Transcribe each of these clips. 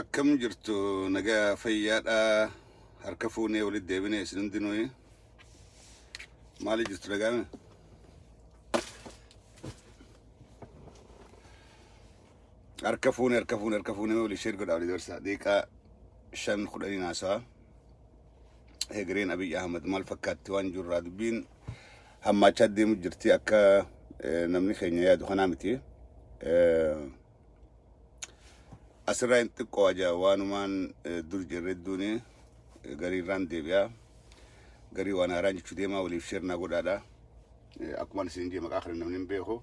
Akkam jirtu nagaa fayyaadha harka fuunee walitti deebine isin hundinuu maali jirtu nagaame harka fuune harka fuune harka fuune walii sheer godhaa walii dabarsaa deeqaa shan kudhanii naasaa egereen Abiy Ahmed maal fakkaatti waan jiru irraa dubbiin hammaachaa deemu jirti akka eh, namni keenya yaadu kanaa miti. Eh, Asirraa hin xiqqoo aja waanumaan eh, dur jirre duuni eh, gariirraan deebi'a. Garii waan haaraan jechuu deemaa waliif sheernaa godhaadha. Eh, Akkuma isin jee maqaa kana namni hin beeku.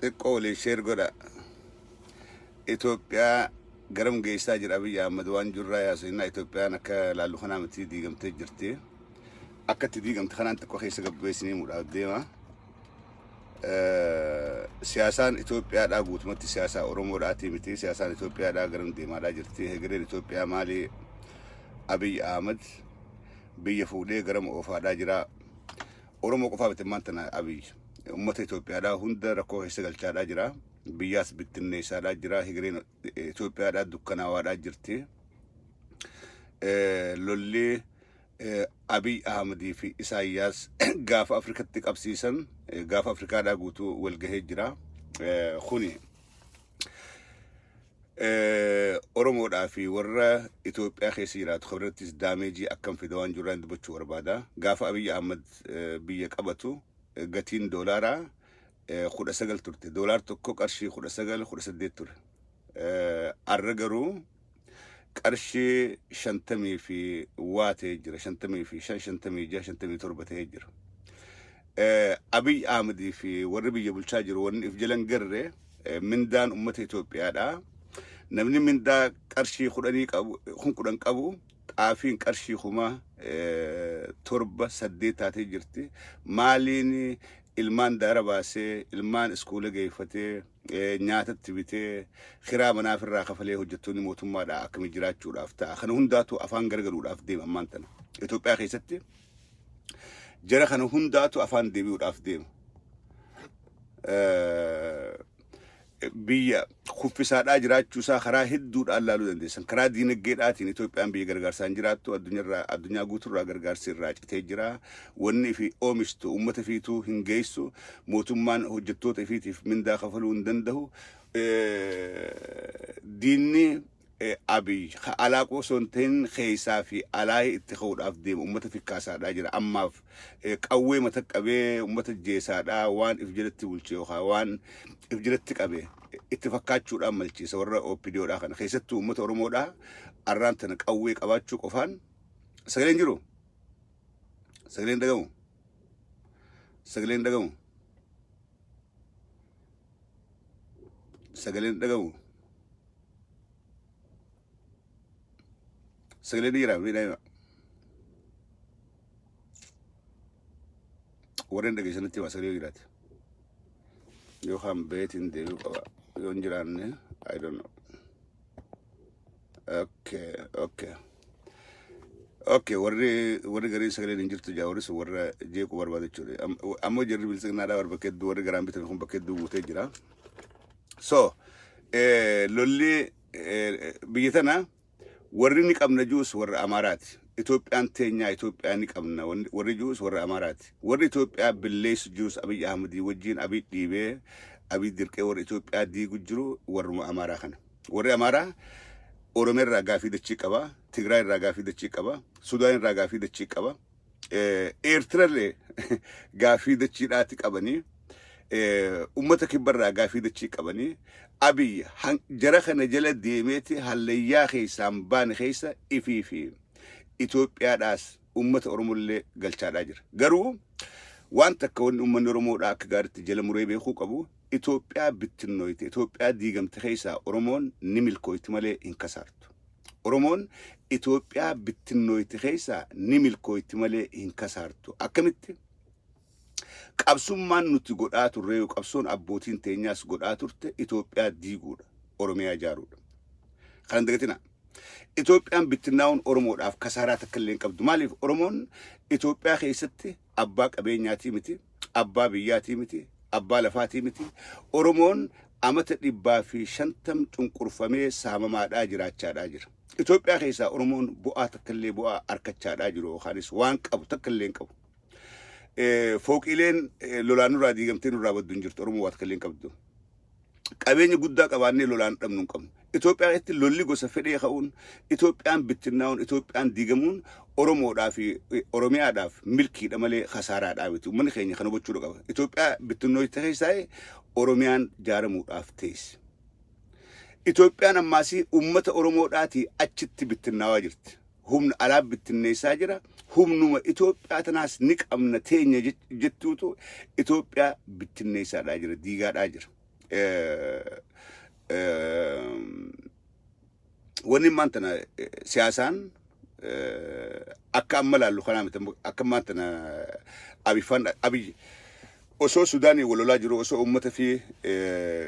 xiqqoo waliin sheer godha Itoophiyaa garam geessaa jira Abiyyi Ahmad waan jirraa yaasofnaa Itoophiyaan akka laallu kanaa miti diigamtee jirti akka itti diigamte kanaan xiqqoo keessa gabbeessinii mudhaaf deema siyaasaan Itoophiyaadhaa guutumatti siyaasaa Oromoodhaatii miti siyaasaan Itoophiyaadhaa garam deemaadhaa jirti hegereen Itoophiyaa maali Abiyyi Ahmad biyya fuudhee garam oofaadhaa jira Oromoo qofaa miti ammaan tana Abiy. Uummata Itoophiyaadhaa hunda rakkoo keessa galchaadhaa jira. Biyyaas bittinneessaadhaa jira. Higireen eh, Itoophiyaadhaa dukkanaawaadhaa jirti. Eh, Lolli eh, Abiy Ahmadii fi Isaayyaas gaafa Afrikatti qabsiisan eh, gaafa Afrikaadhaa guutuu walgahee jira. Eh, Kuni Oromoodhaa fi warra Itoophiyaa keessa jiraatu kan irrattis daameejii akkam fida waan jirraan dubbachuu barbaada. Gaafa Abiy Ahmad biyya qabatu gatiin doolaaraa kudha sagal turte. Doolaar tokko qarshii kudha sagal kudha saddeet ture. Arra garuu qarshii shantamii fi waa ta'ee jira. Shantamii fi shan shantamii jaha shantamii torba ta'ee jira. Abiy Ahmadii fi warri biyya bulchaa jiru wanni if jalan garre Eh, Mindaan uummata Itoophiyaadha. Namni mindaa qarshii kudhanii qabu, kun kudhan qabu xaafiin qarshii kuma eh, torba saddeet taatee jirti. Maaliin ilmaan daara baasee, ilmaan iskuula geeffatee, eh, nyaatatti bitee, kiraa manaaf irraa kafalee hojjettoonni mootummaadha akkami jiraachuudhaaf ta'a. Kana hundaatu afaan garagaluudhaaf deema ammaan tana. Itoophiyaa keessatti jara kana hundaatu afaan deebi'uudhaaf deema. biyya kuffisaadhaa jiraachuu isaa karaa hedduudhaan laaluu dandeessan. Karaa diinagdeedhaatiin Itoophiyaan biyya gargaarsaan jiraattu addunyaarraa addunyaa guutuurraa gargaarsi irraa citee jira. Wanni fi oomishtu uummata fiituu hin geessu. Mootummaan hojjettoota ifiitiif mindaa kafaluu hin danda'u. Diinni Abiy ka alaa qofa osoo hin ta'in keessaa fi alaa itti ka'uudhaaf deema ummata fikkaasaadhaa jira ammaaf qawwee mata qabee ummata jeesaadhaa waan if jalatti bulche yookaan waan if jalatti qabe itti fakkaachuudhaan malchiisa warra OPDOdhaa kana keessattuu ummata Oromoodhaa arraan tana qawwee qabaachuu qofaan sagaleen jiru sagaleen dhagamu sagaleen dhagamu sagaleen dhagamu Sagalee dhiiraa fi daa'ima. Warreen dhageessanitti himaa sagalee dhiiraati. Yookaan beetiin deebi'uu qaba. Yoo hin jiraanne, I don't know. Okay, okay. Okay, warri warri gariin sagaleen hin jirtu jaa warri sun warra jeequu barbaada jechuudha. Am- Ammoo jarri biltsiginnaadhaa warra bakka hedduu warri garaan bitan kun bakka hedduu guutee jira. So eh, lolli eh, biyya tana warri ni qabna juus warra Amaaraati. Itoophiyaan teenyaa Itoophiyaa ni qabna wanni- warri juus warra Amaaraati. Warri Itoophiyaa billeessu juus Abiy Ahmadii wajjin Abiy dhiibee Abiy dirqee warra Itoophiyaa diigu jiru warruma Amaaraa kana. Warri Amaaraa Oromiyaa irraa gaafii dachii qaba, Tigraay irraa gaafii dachii qaba, Sudaan irraa gaafii dachii qaba. eh, Eertirallee gaafii dachiidhaati qabanii eh, ummata kibbarraa gaafii dachii qabanii abiyyi han- jara kana jala deemeeti hallayyaa keessaan baane keessa ifii fi Itoophiyaadhaas ummata Oromollee galchaadhaa jira. Garuu waan takka wanni uummanni Oromoodhaa akka gaariitti jala muree beekuu qabu Itoophiyaa bittinnooyte Itoophiyaa diigamte keessaa Oromoon ni milkooyti malee hin kasaartu. Oromoon Itoophiyaa bittinnooyti keessaa ni milkooyti malee hin kasaartu. Akkamitti? Qabsummaan nuti godhaa turreeyu qabsoon abbootiin teenyaas godhaa turte Itoophiyaa diiguudha. Oromiyaa ijaaruudha. Kana hin dagatinaa. Itoophiyaan bittinnaa'uun Oromoodhaaf kasaaraa takka illee hin qabdu. Maaliif? Oromoon Itoophiyaa keessatti abbaa qabeenyaatii miti, abbaa biyyaatii miti, abbaa lafaatii miti. Oromoon amata dhibbaa fi shantam cunqurfamee saamamaadhaa jiraachaadhaa jira. Itoophiyaa keessaa Oromoon bu'aa takkallee bu'aa arkachaadhaa jiru yookaanis waan qabu takkallee hin qabu. Eh, Fooqiileen eh, lolaan nurraa diigamtee nurraa baddu hin jirtu. Oromoo waa takkallee hin qabdu. qabeenya guddaa qabaannee lolaan dhabnu hin qabnu. Itoophiyaa keessatti lolli gosa fedhee ka'uun, Itoophiyaan bittinnaa'uun, Itoophiyaan diigamuun Oromoodhaa fi Oromiyaadhaaf milkiidha malee kasaaraadhaa miti. Uummanni keenya kan hubachuu qaba. Itoophiyaa bittinnooyte keessaa Oromiyaan jaaramuudhaaf teessi. Itoophiyaan ammaasii uummata Oromoodhaatii achitti bittinnaawaa jirti. humna alaa bittinneessaa jira. Humnuma Itoophiyaa tanaas ni qabna teenya jech- jettuutu Itoophiyaa bittinneessaadhaa jira, diigaadhaa jira. Eh, eh, Wanni ammaan tana eh, siyaasaan eh, akka amma laallu kanaa miti. Amma- Akka ammaan tana Abiy Faan Abiy Osoo Sudaaniin wal lolaa jiruu osoo uummata fi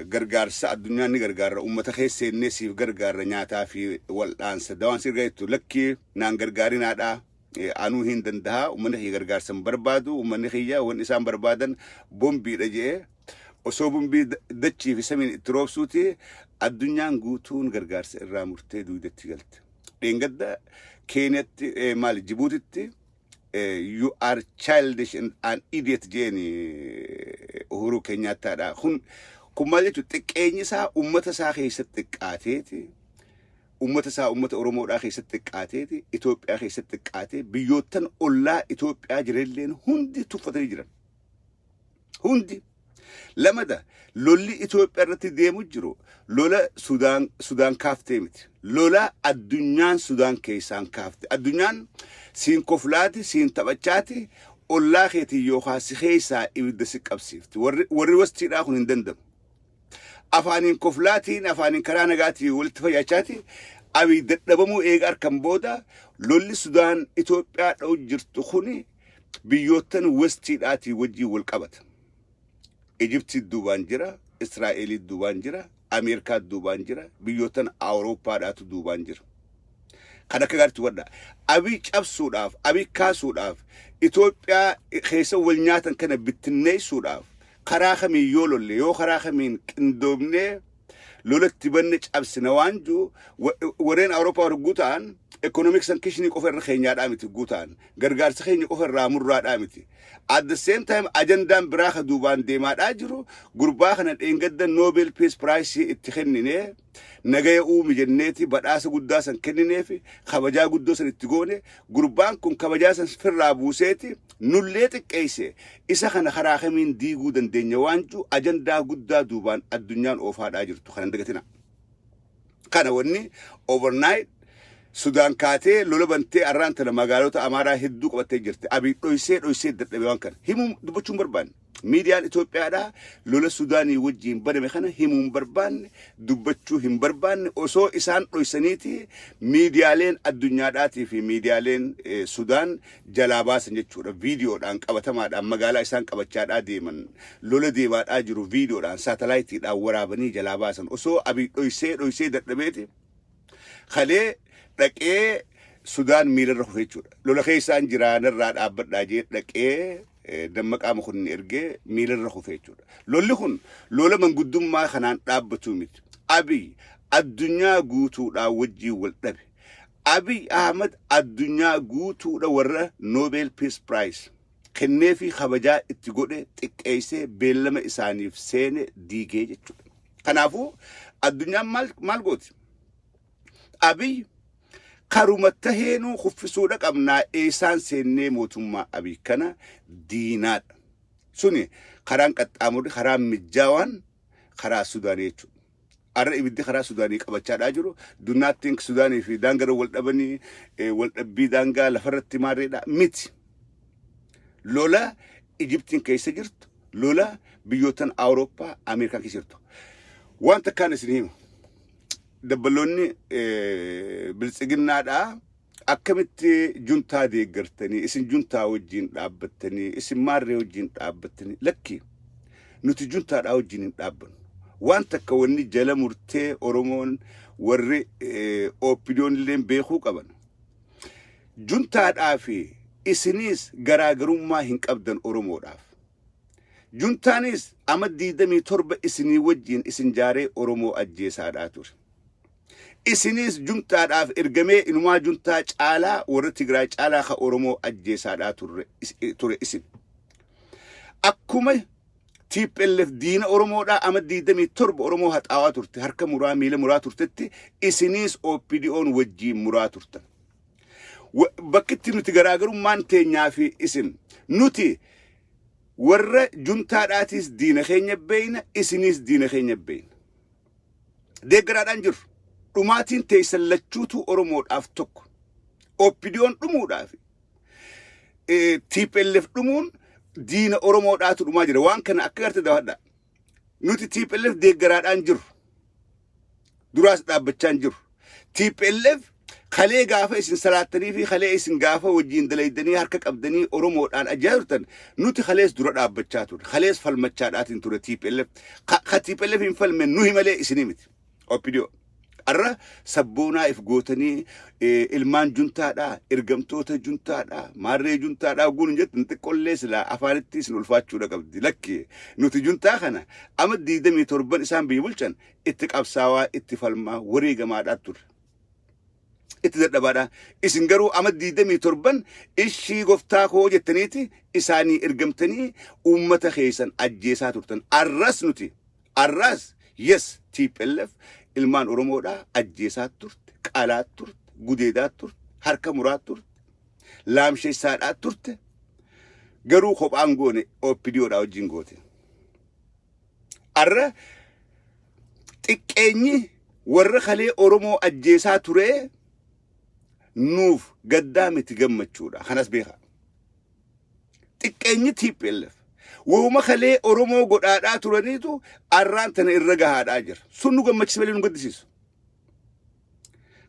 gargaarsa addunyaan ni gargaarra uummata keessa seennee siif gargaarra nyaataa fi wal'aansa dawaan si ergaa jettu lakkii naan gargaarinaadha anuu hin dandaha uummanni kiyya gargaarsa hin barbaadu uummanni kiyya wan isaan barbaadan bombiidha je'e osoo bombii dachii fi samiin itti roobsuuti addunyaan guutuun gargaarsa irraa murtee duudetti galte. Dheengadda Keeniyatti maali Jibuutitti you are childish and an idiot jeeni uhuruu keenyaattaadha kun kun maal jechuudha xiqqeenyi isaa ummata isaa keessatti xiqqaateeti ummata isaa ummata oromoodhaa keessatti xiqqaateeti Itoophiyaa keessatti xiqqaatee biyyoottan ollaa Itoophiyaa jireelleen hundi tuffatanii jiran Hundi. Lamada lolli Itoophiyaa irratti deemu jiru lola Sudaan Sudaan kaaftee miti. Lola addunyaan Sudaan keessaan kaafte. Addunyaan siin koflaati, siin taphachaati, ollaa keetiin yookaan si keessaa ibidda si qabsiifti. Warri warri wastiidhaa kun hin danda'amu. Afaaniin koflaatiin, afaaniin karaa nagaatiin walitti fayyaachaati. Abiy dadhabamuu eega arkan booda lolli Sudaan Itoophiyaa dha'u jirtu kuni biyyoottan westiidhaatii wajjin wal qabata. Ijiptii duubaan jira, Israa'elii duubaan jira, Ameerikaa duubaan jira, biyyoottan Awurooppaadhaatu duubaan jira. Kan akka gaariitti hubadha. Abii cabsuudhaaf, abii kaasuudhaaf, Itoophiyaa keessa wal nyaatan kana bittinneessuudhaaf karaa kamiin yoo lolle, yoo karaa kamiin qindoomnee lola itti banne cabsina waan ju wa- warreen awurooppaa warra guutaan ekonomiiksan kishinii qofa irra keenyaadhaa miti guutaan gargaarsa keenya qofa irraa murraadhaa miti at the same time ajandaan biraa ka duubaan deemaadhaa jiru gurbaa kana dheengadda noobel peace prize itti kenninee nagaya uumi jenneeti badhaasa guddaa san kennineefi kabajaa guddoo san itti goone gurbaan kun kabajaa san firraa buuseeti Nullee xiqqeessee isa kana karaa kamiin diiguu dandeenya waan jedhu ajandaa guddaa duubaan addunyaan oofaadhaa jirtu kana hin dagatinaa. Kana wanni overnight Sudaan kaatee lola bantee arraan tana magaalota Amaaraa hedduu qabattee jirti. Abiy dhoysee dhoysee dadhabe waan kana. Himuu dubbachuun barbaanne. Miidiyaan Itoophiyaadhaa lola Sudaanii wajjiin baname kana himuu hin barbaanne, dubbachuu hin barbaanne, osoo isaan dhoysaniiti miidiyaaleen addunyaadhaatii fi miidiyaaleen Sudaan jalaa baasan jechuudha. Viidiyoodhaan qabatamaadhaan magaalaa isaan qabachaadhaa deeman, lola deemaadhaa jiru viidiyoodhaan saatalaayitiidhaan waraabanii jalaa baasan. Osoo Abiy dhoysee dhoysee dadhabeeti kalee dhaqee Sudaan miilarra kufe jechuudha. Lola keessaan jiraa narraa dhaabbadhaa jee dhaqee eh, Dammaqaa Mokonnin ergee miilarra kufe jechuudha. Lolli kun lola manguddummaa kanaan dhaabbatu miti. Abiy addunyaa guutuudhaa wajjin wal dhabe. Abiy Ahmad addunyaa guutuudha warra Nobel Peace Prize kennee fi kabajaa itti godhe xiqqeessee beellama isaaniif seene diigee jechuudha. Kanaafuu addunyaan maal maal gooti? Abiy karuma taheenuu kuffisuudha qabnaa eessaan seennee mootummaa Abiy kana diinaadha. Suni karaan qaxxaamurri karaa mijjaawaan karaa Sudaanii jechuudha. Arra ibiddi karaa Sudaanii qabachaadhaa jiru. Do not think Sudaanii fi daangaroo wal dhabanii eh, wal dhabbii daangaa lafarratti maarreedha miti. lola Ijiptiin keessa jirtu, lola biyyoottan Awurooppaa, Ameerikaa keessa jirtu. Wanta kaan isin himu. dabbaloonni biltsiginnaadhaa akkamitti juntaa deeggartanii isin juntaa wajjin dhaabbattanii isin maarree wajjin dhaabbattanii lakki nuti juntaadhaa wajjin hin dhaabbannu waan takka wanni jala murtee oromoon warri ooppidiyoon illeen beekuu qaban juntaadhaa fi isiniis garaagarummaa hin qabdan oromoodhaaf Juntaanis ama 27 isinii wajjiin isin jaaree Oromoo ajjeesaadhaa ture. Isiniis juntaadhaaf ergamee inumaa juntaa caalaa warra Tigraay caalaa ka Oromoo ajjeesaadhaa turre is- ture isin. Akkuma TPLF diina Oromoodhaa ama 27 Oromoo haxaawaa turte harka muraa miila muraa turtetti isiniis OPDOn wajjiin muraa turtan. Wa- Bakki itti nuti garaagarummaan teenyaa fi isin nuti warra juntaadhaatiis diina keenya beeyna isiniis diina keenya beeyna. Deeggaraadhaan jirru. Dhumaatiin teessan lachuutu Oromoodhaaf tokko. Oppidiyoon dhumuudhaaf eh, TPLF dhumuun diina Oromoodhaatu dhumaa jira. Waan kana akka garte daawwadha. nuti TPLF deeggaraadhaan jiru. Duraas dhaabbachaan jiru. TPLF kalee gaafa isin salaattanii fi kalee isin gaafa wajjin dalaydanii harka qabdanii Oromoodhaan ajjaa turtan nuti kalees dura dhaabbachaa ture. Kalees falmachaadhaatiin ture TPLF. Ka, ka TPLF hin falme nuhi malee isinii miti. Opidiyoo. Har'a sabboonaa if gootanii eh, ilmaan juntaadhaa, ergamtoota juntaadhaa, maarree juntaadhaa ogguun hin jettan xiqqollee silaa afaanitti isin ulfaachuudha qabdi. Lakki nuti juntaa kana ama 27 isaan biyya bulchan itti qabsaawaa, itti falmaa, wareegamaadhaa turre. itti dadhabaadha. Isin garuu ama 27 ishii goftaa koo jettaniiti isaanii ergamtanii uummata keessan ajjeesaa turtan. Arras nuti Arraas yes tplf ilmaan Oromoodhaa ajjeesaat turte, qalaat turte, gudeedaat turte, harka muraat turte, laamsheessaadhaat turte, garuu kophaa hin goone OPDO dhaa wajjin goote. Arra xiqqeenyi warra kalee Oromoo ajjeesaa turee nuuf gaddaa miti gammachuudha. Kanas beekaa. Xiqqeenyi TPLF wooma kalee Oromoo godhaadhaa turaniitu arraan tana irra gahaadhaa jira. Sun nu gammachiisa malee nu gaddisiisu.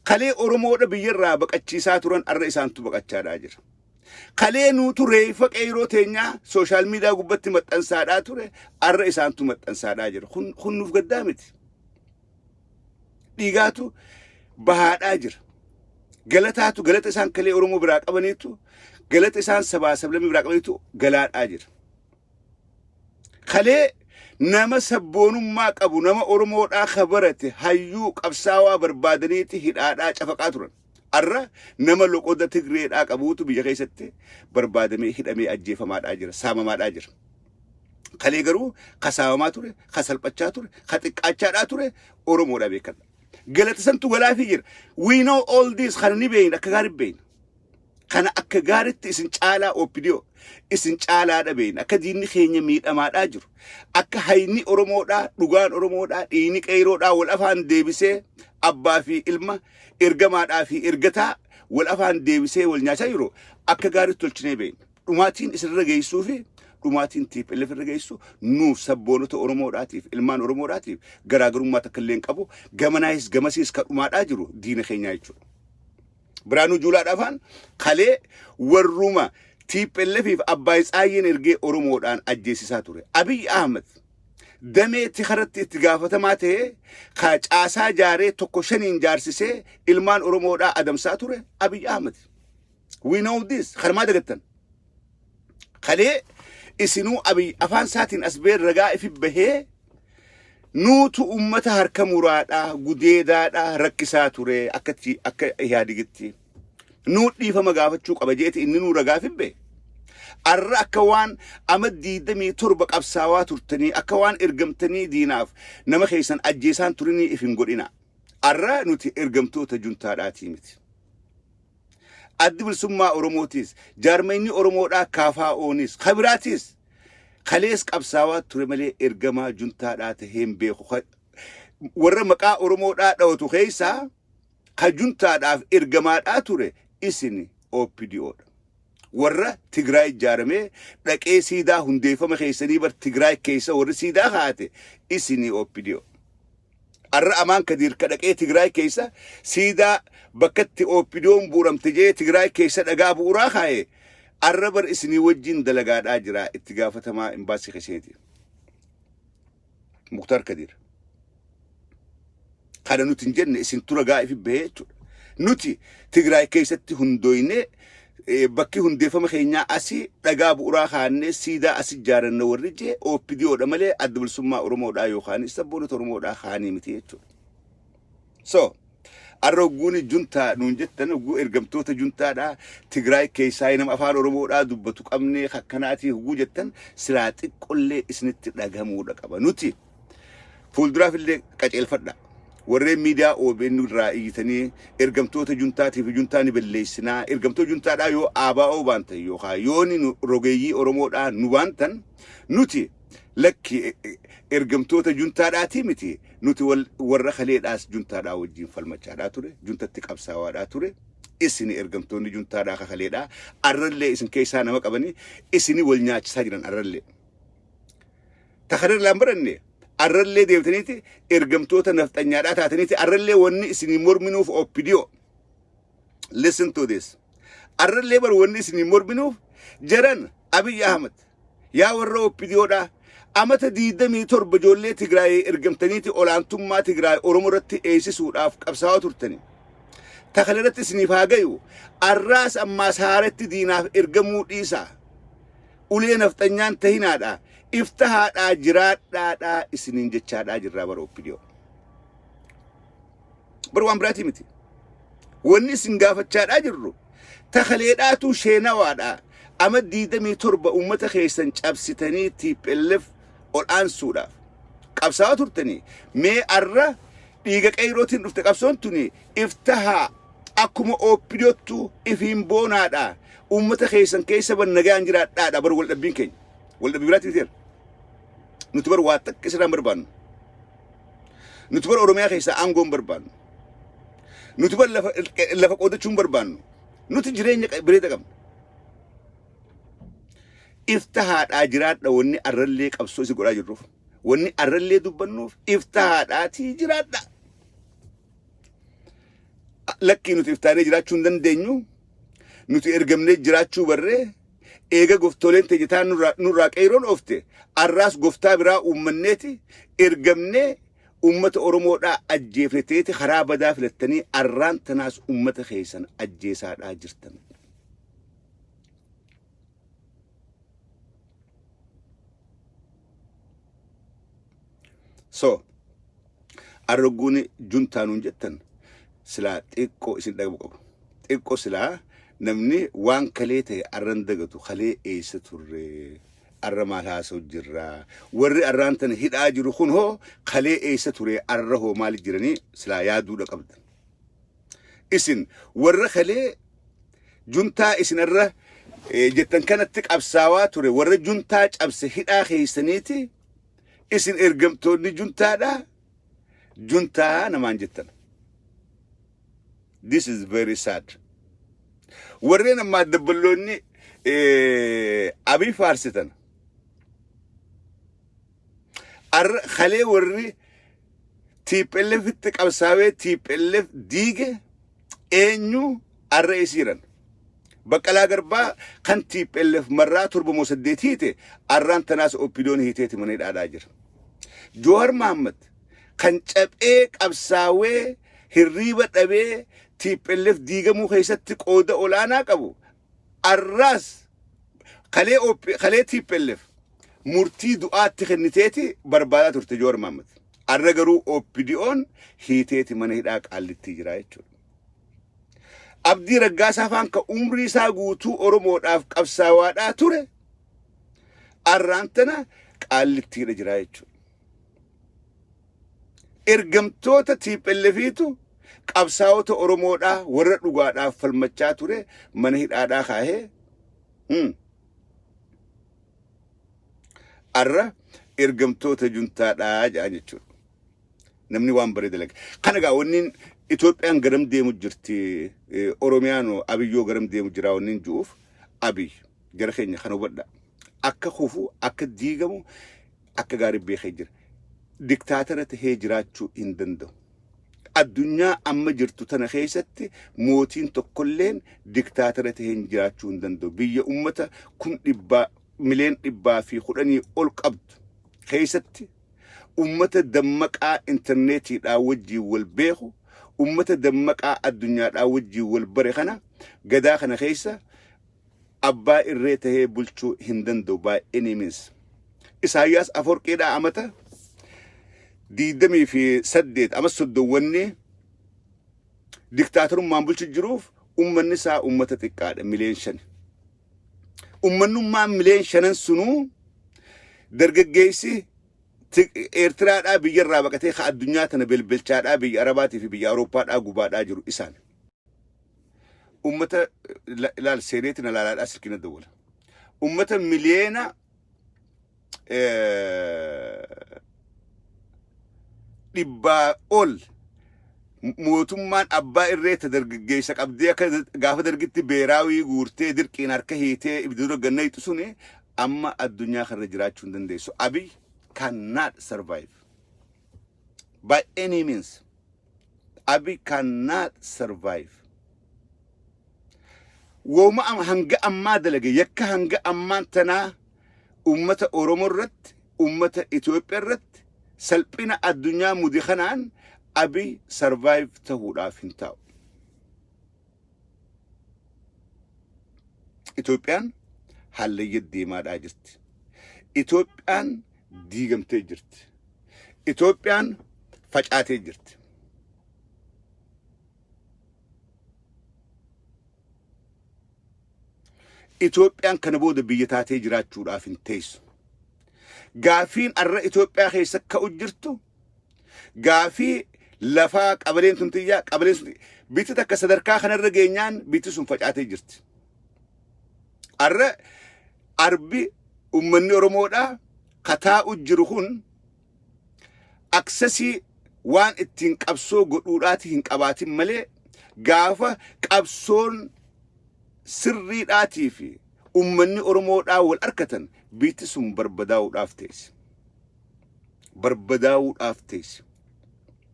Kalee Oromoodha biyyarraa baqachiisaa turan arra isaantu baqachaadhaa jira. Kalee nuutu reeffa qeeyroo teenyaa sooshaal miidiyaa gubbatti maxxansaadhaa ture arra isaantu maxxansaadhaa jira. Kun, kun nuuf gaddaa miti. dhiigaatu bahaadhaa jira. Galataatu galata isaan kalee Oromoo biraa qabaniitu galata isaan sabaa sablamii biraa qabaniitu galaadhaa jira. Kalee nama sabboonummaa qabu nama Oromoodhaa kabarate hayyuu qabsaawaa barbaadaniiti hidhaadhaa cafaqaa turan. Har'a nama loqoda Tigreedhaa qabuutu biyya keessatti barbaadamee, hidhamee, ajjeefamaadhaa jira, saamamaadhaa jira. Kalee garuu ka saamamaa ture, ka salphachaa ture, ka xiqqaachaadhaa ture Oromoodhaa beekadha. Galata santu galaafii jira. We know all this kana ni beeyna akka gaaritti beeyna. Kana akka gaaritti isin caalaa OPDO isin caalaa dhabeeyna akka diinni keenya miidhamaadhaa jiru. Akka hayni Oromoodhaa, dhugaan Oromoodhaa, dhiigni qeeyroodhaa wal afaan deebisee abbaa fi ilma Ergamaadhaa fi ergataa wal afaan deebisee wal nyaachaa jiru akka gaariitti tolchinee beekna. Dhumaatiin isin irra geessuu fi dhumaatiin TPLF irra geessu nuuf sabboonota Oromoodhaatiif ilmaan Oromoodhaatiif garaagarummaa takka illee hin qabu. Gamanaayis gamasiis ka dhumaadhaa jiru diina keenyaa jechuudha. Biraanuu Juulaadhaa faan kalee warruma TPLF fi Abbaay Tsaayyeen ergee Oromoodhaan ajjeesisaa ture. Abiy Ahmed damee itti karatti itti gaafatamaa ta'ee ka caasaa jaaree tokko shaniin jaarsisee ilmaan Oromoodhaa adamsaa ture Abiy Ahmed. We know this. Kanumaa dagattan. Kalee isinuu Abiy afaan isaatiin as ba'ee ragaa ifi bahee nuutu uummata harka muraadhaa gudeedaadhaa rakkisaa ture akkatti akka ihaadigitti. nuu dhiifama gaafachuu qaba jeeti inni nuu ragaa fibbe arra akka waan ama diidamii torba qabsaawaa turtanii akka waan ergamtanii diinaaf nama keessan ajjeesaan turinii if hin godhina arra nuti ergamtoota juntaadhaatii miti addi bilisummaa oromootiis jaarmayni oromoodhaa kaafaa oonis kabiraatiis kalees qabsaawaa ture malee ergamaa juntaadhaa taheen beeku Ka- warra maqaa oromoodhaa dhawatu keessaa ka juntaadhaaf ergamaadhaa ture isin OPDO dha. Warra Tigraay ijaaramee dhaqee siidaa hundeeffama keessanii bar Tigraay keessa warri siidaa kaate isin OPDO. Arra Amaan Kadiir ka dhaqee Tigraay keessa siidaa bakkatti OPDO'n bu'uramte jee Tigraay keessa dhagaa bu'uraa kaaye arra bar isinii wajjin dalagaadhaa jira itti gaafatamaa imbaasii keessaniiti. Muktar Kadir. Kana nuti hin jenne isin tura gaa'ifi bahee jechuudha. Nuti Tigraay keessatti hundooynee eh, bakki hundeeffama keenyaa asii dhagaa bu'uraa kaannee siidaa asi ijaaranna warri jee OPDOdha malee adda bilisummaa Oromoodhaa yookaan sabboonota Oromoodhaa kaanii miti jechuudha. So, arra hogguuni juntaa nuun jettan hogguu ergamtoota juntaadhaa Tigraay keessaa nama afaan Oromoodhaa dubbatu qabnee kakkanaatii hogguu jettan silaa xiqqollee isinitti dhagamuudha qaba. Nuti fuulduraaf illee qaceelfadha. Warreen miidiyaa OBN irraa iyyitanii ergamtoota juntaatiif juntaa ni balleessinaa. Ergamtoota juntaadhaa yoo ABO baantan yookaan yoo ni nu- rogeeyyii Oromoodhaa nu baantan nuti Lakki ergamtoota juntaadhaatii miti. Nuti wal- warra kaleedhaas juntaadhaa wajjin falmachaadhaa ture. Juntatti qabsaawaadhaa ture. Isin ergamtoonni juntaadhaa ka kaleedhaa. Arrallee isin keessaa nama qabanii isini wal nyaachisaa jiran arrallee. Ta kana irraa hin baranne arrallee deebitaniiti ergamtoota nafxanyaadhaa taataniiti arrallee wanni isinii morminuuf oppidiyoo. Listen to this. Arrallee bar wanni isinii morminuuf jaran Abiy Ahmed Yaa warra opdo dhaa amata 27 ijoollee Tigraayii ergamtaniiti olaantummaa Tigraay Oromoo irratti eeysisuudhaaf qabsaawaa turtani. Ta kana irratti isiniif haa gayu arraas ammaas haaretti diinaaf ergamuu dhiisaa. Ulee nafxanyaan tahinaadhaa iftahaadhaa jiraadhaadhaa isiniin jechaadhaa jirraa warra opdo. Bar waan biraatii miti. Wanni isin gaafachaadhaa jirru takaleedhaatuu sheenawaadhaa ama diidamii torba uummata keessan cabsitanii TPLF ol aansuudhaaf qabsaawaa turtanii mee arra dhiiga qeeyrootiin dhufte qabsoon tuni iftahaa akkuma ooppidiyoottu ifiin boonaadhaa uummata keessan keessa ban nagaan jiraadhaadha bar waldhabbiin keenya waldhabbii biraatii miteera nuti bar waa takka isirraan barbaannu Nuti bar Oromiyaa keessaa aangoo hin barbaannu. Nuti bar lafa, lafa qoodachuu hin barbaannu. Nuti jireenya qa- bireeda qabna. Iftahaadhaa jiraadha wanni arrallee qabsoo si godhaa jirruuf. Wanni arrallee dubbannuuf iftahaadhaatii jiraadha. Lakkii nuti iftaanee jiraachuu hin dandeenyu. Nuti ergamnee jiraachuu barree Eega goftooleen teenya taan nurraa, nurraa qeeyroon oofte, arraas goftaa biraa uummanneeti ergamnee uummata Oromoodhaa ajjeefne teeti karaa badaa filattanii arraan tanaas uummata keeysan ajjeesaadhaa jirtan. so arrogguun juntaa nuun jettan silaa xiqqoo isin dhagabu qabu xiqqoo silaa namni waan kalee ta'e arran dagatu kalee eessa turre arra maal haasa'u jirra warri arraan tana hidhaa jiru kun hoo kalee eessa ture arra hoo maal jiranii silaa yaaduudha qabdan isin warra kalee juntaa isin irra eh, jettan kanatti qabsaawaa ture warra juntaa cabse hidhaa keessaniiti isin ergamtoonni juntaadha juntaa namaan jettan this is very sad warreen ammaa dabballoonni eh, abii faarsitan Arra kalee warri TPLFitti qabsaawee TPLF diige eenyu arra isiiran. Baqqalaa Garbaa kan TPLF marraa torba moo saddeet hiite arraan tanaas oppidoon hiiteeti mana hidhaadhaa jira. Joohar Mahammad kan caphee qabsaawee hirriiba dhabee TPLF diigamuu keessatti qooda olaanaa qabu Arraas kalee OP kalee tplf murtii du'aatti kenniteeti barbaadaa turte Jawaar Mahaammad. Arra garuu OPDOn hiiteeti mana hidhaa qaallittii jira jechuudha. Abdii Raggaasaa faan ka umrii isaa guutuu Oromoodhaaf qabsaawaadhaa ture arraan tana qaallittiidha jira jechuudha. Ergamtoota TPLFiitu qabsaa'ota Oromoodhaa warra dhugaadhaaf falmachaa ture mana hidhaadhaa kaahee hmm, arra ergamtoota juntaadhaa jedhan jechuudha. Namni waan baree dalage. Kana egaa wanniin Itoophiyaan garam deemu jirti, eh, Oromiyaan hoo Abiyyoo garam deemu jira wanniin ju'uuf Abiy jara keenya kan hubadha. Akka kufu, akka diigamu akka gaarii beekee jira. Diktaatara tahee jiraachuu hin danda'u. Addunyaa amma jirtu tana keessatti mootiin tokkolleen diktaatara tahee jiraachuu hin danda'u. Biyya ummata kum dhibbaa mileen dhibbaa fi kudhanii ol qabdu keessatti ummata dammaqaa intarneetiidhaa wajjin wal beeku ummata dammaqaa addunyaadhaa wajjin wal bare kana gadaa kana keessa abbaa irree tahee bulchuu hin danda'u by any means. Isaayyaas Afoorqiidhaa amata diidamii fi saddeet amas soddowwanni diktaatorummaan bulchu jiruuf ummanni isaa ummata xiqqaadha mileen shan. Ummannummaan mileen shanan sunuu dargaggeessi Eertiraadhaa biyyarraa baqatee ka addunyaa tana belbelchaadhaa biyya Arabaatii fi biyya Awurooppaadhaa gubaadhaa jiru isaan. ummata la- laal seeneeti na laalaadhaa silkii na dawwala ummata miliyeena eh, dhibbaa ol mootummaan abbaa irree ta dargaggeessa qabdee akka gaafa dargitti beeraawii guurtee dirqiin harka hiitee ibiduu dogganna hiixu suni amma addunyaa kanarra jiraachuu hin dandeessu abiy cannot survive by any means Abi can not survive. Wooma am- hanga ammaa dalage yakka hanga ammaan tanaa ummata Oromoo irratti ummata Itoophiyaa irratti salphina addunyaa mude kanaan abi survive ta'uudhaaf hin taa'u. Itoophiyaan hallayya deemaadhaa jirti. Itoophiyaan diigamtee jirti. Itoophiyaan facaatee jirti. Itoophiyaan kana booda biyya taatee jiraachuudhaaf hin teessu. Gaafiin arra Itoophiyaa keessa ka'u jirtu Gaafii lafaa qabaleen tun tiyyaa qabaleen sun bitti takka sadarkaa kanarra geenyaan bitti sun facaatee jirti. Arra arbi ummanni Oromoodhaa kataa'u jiru kun aksesii waan ittiin qabsoo godhuudhaati hin qabaatin malee gaafa qabsoon sirriidhaatii fi ummanni Oromoodhaa wal arkatan biitti sun barbadaa'uudhaaf teessi. barbadaa'uudhaaf teessi.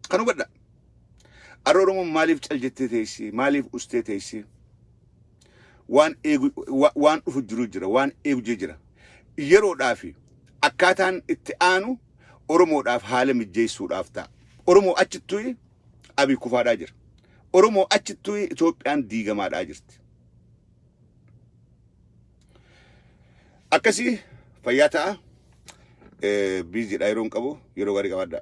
Kan hubadha. Arra Oromoon maaliif cal jettee teessi? Maaliif ustee teessi? Waan eegu wa- waan dhufu jiru jira, waan eegu jiru jira. Yeroodhaaf akkaataan itti aanu Oromoodhaaf haala mijjeessuudhaaf ta'a. Oromoo achittuyi Abiy kufaadhaa jira. Oromoo achittuyi Itoophiyaan diigamaadhaa jirti. akkasii fayyaa ta'a biiziidha yeroo hin qabu yeroo gaarii qabaadha.